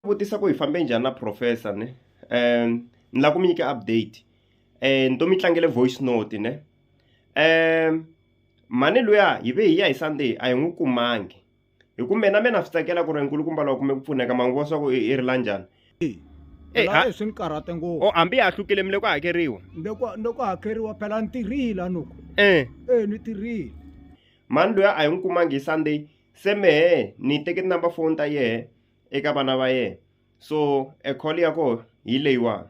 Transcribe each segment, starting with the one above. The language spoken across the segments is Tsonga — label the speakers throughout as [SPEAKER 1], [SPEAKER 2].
[SPEAKER 1] vutisa ku hi fambe njhani na professor ne um ni lava ku mi nyika update um ni to mi tlangele voice note ne um mhani luya hi ve hi ya hi sunday a hi n'wi kumangi hi ku mina mina swi tsakela ku ri nkulukumba lowa kume ku pfuneka mangu vo swa ku i ri la njhani Eh, ha- laha swi ni karhate ngopfu o hambi ha hlukile mi le ku hakeriwa ni ku- ni ku hakeriwa phela ni tirhile anuku um e ni tirhile mhani luya a hi n'wi kumangi hi sunday se mehe ni teke tinumber phone ta yehe eka vana va yena so e call ya koho hi leyiwani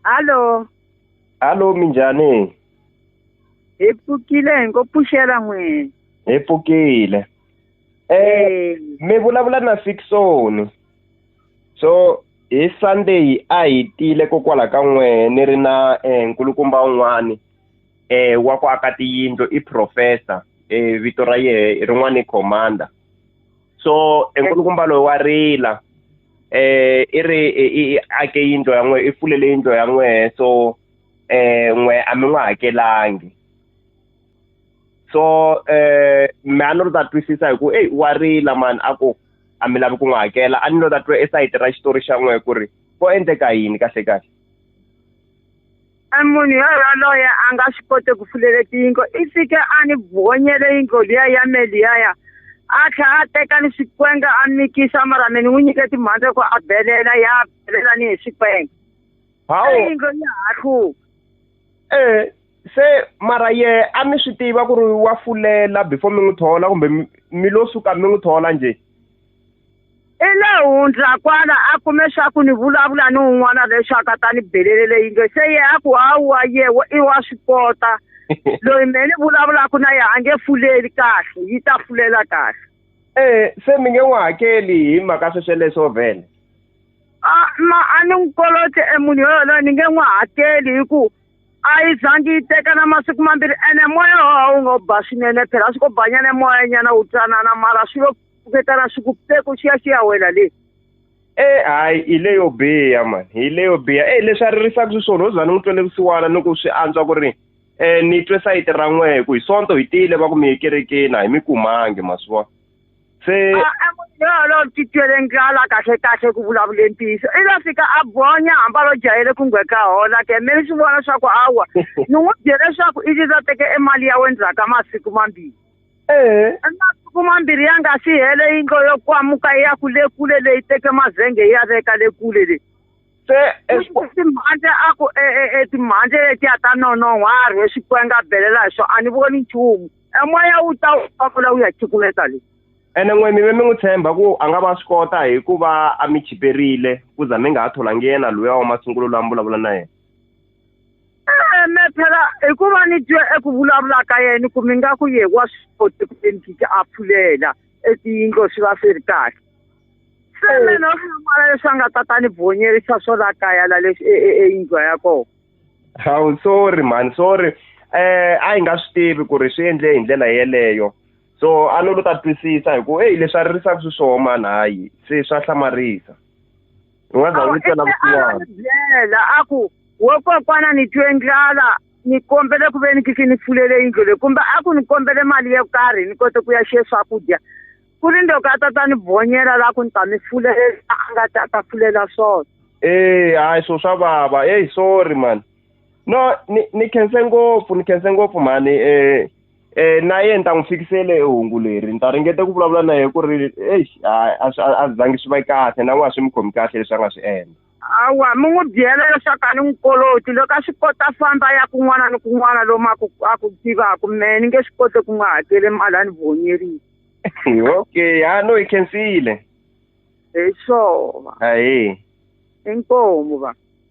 [SPEAKER 1] hallo hallo minjhani hi pfukile hi ngo pfuxela n'wini hi pfukile eh mi vulavula na fiksoni so hi sunday a hi tile kokwala ka n'wehe ni ri na um nkulukumba un'wani eh wa ku aka tiyindlo i professor eh vito ra yehe rin'wana i commander so enkulukumba loyi wa rila eh i ri i ake yindlo ya n'we i pfulele yindlo ya n'we so eh n'we a mi n'wi hakelangi so eh me a ni ri ta twisisa hi ku eyi wa rila mani a ku a mi lavi ku n'wi hakela a ni lo ta twa esayiti ra xitori xa n'we ku ri ko endleka yini kahle kahle E munhu yoloye a nga swi koti ku pfulela tiyingo i fike a ni bonyele yingo liya ya me liyaya a tlha a teka ni swikwenge a mikisa mara mi ni n'wi nyike timhandze ku a belela ya belela ni hi swikwenge hawu yingo ya ha hluka eh se mara ye a mi swi tiva ku ri wa fulela before mi n'wi thola kumbe mi lo suka mi n'wi thola njhe i le hundza kwala a kume swa ku ni vulavula ni un'wana leswaku a ta ni belele leyi nge se ye a ku hawa ye i wa swi kota loyi me ni vulavulaka na ye a nge fuleli kahle yi ta fulela kahle ee eh, se mi nge n'wi hakeli hi mhaka swesweleswo vhele a ma a ni n'wi kolote e munhu yoyoloyo ni nge n'wi hakeli hi ku a yi zangi yi teka na masiku mambirhi ene moya wowa wu ngo ba swinene phela swi ko banyana moya nyana wu tsanana mara swi lo ku vetana swi ku peku xiya xi ya wela le e hayi hi leyo biha mani hi leyo biha e leswi a ririsaka swi swona uzani n'wi twele vusiwana ni ku swi antswa ku ri um ni twe sayiti ra n'we hi ku hi sonto hi tiyile va ku mi yekerekeni a hi mi kumangi ma swi vona se yolo ti twele ndlala kahle kahle ku vulavule ntiyiso i lo fika a bonya hamba lo jahele ku ngwe ka hola ke me ni swi vona swa ku awa ni n'wi byele leswaku i liza teke e mali ya we ndzhaku ka masiku mambirhi ee a nga kuma mbirhi ya nga si hele yindlo yo kwamuka ya ku le kule leyi teke mazenge ya veka le kule leyi se timhandle a ku e, e, e, timhandle letiya ta nonon'wa a rhe xikwenge a belela hi swona a ni voni nchumu emoya wu ta wu pamula wu ya chikumeta leyi ene n'we mi ve mi n'wi tshemba ku a nga va swi kota hi ku va a mi chiperile ku za mi nga ha tholangi yena loyi wa masungulo loyi a mi vulavula na yena Eh, me phela hikuva ni twe eku vulavula ka yena ku mi nga ku ye wa swi koti ku ve ni kiki a pfulela etiyindlo swi va swi ri kahle se eh. mina u hlamala leswi a nga ta ta ni bonyerisa swo la kaya la leswi e, e, eyindlwa ya kona hawu sorry mhani sorry um a hi nga swi tivi ku ri swi endle hi ndlela yeleyo so a no lo ta twisisa hi ku eyi leswi a ririsaka swi swoho mani hayi se swa hlamarisa u nga za u vitela vusiwana byela a ku wo kokwana ni twe ndlala ni kombele ku ve ni kiki ni fulele yindlo leyi kumbe a ku ni kombele mali yo karhi ni kote ku ya xiye swakudya ku ri ndoko a ta ta ni bonyela la ku ni ta mi fulela a nga ta ta fulela swona ee hayi swo swa vava eyi sorry mani no ni ni khense ngopfu ni khense ngopfu mhani um na yena ni ta n'wi fikisele hi hungu leri ni ta ringeta ku vulavula na yena ku ri eish a swi a swi zangi swi va kahle na n'wana swi mi khomi kahle leswi a nga swi endla awa mi n'wi byela leswaku a ni n'wi koloti loko a swi kota famba ya kun'wana ni kun'wana lomu a ku a ku tivaka mehe ni nge swi koti ku n'wi hakele mali a ni vonyerile okay ha no hi khensile hi swona ahee inkomu va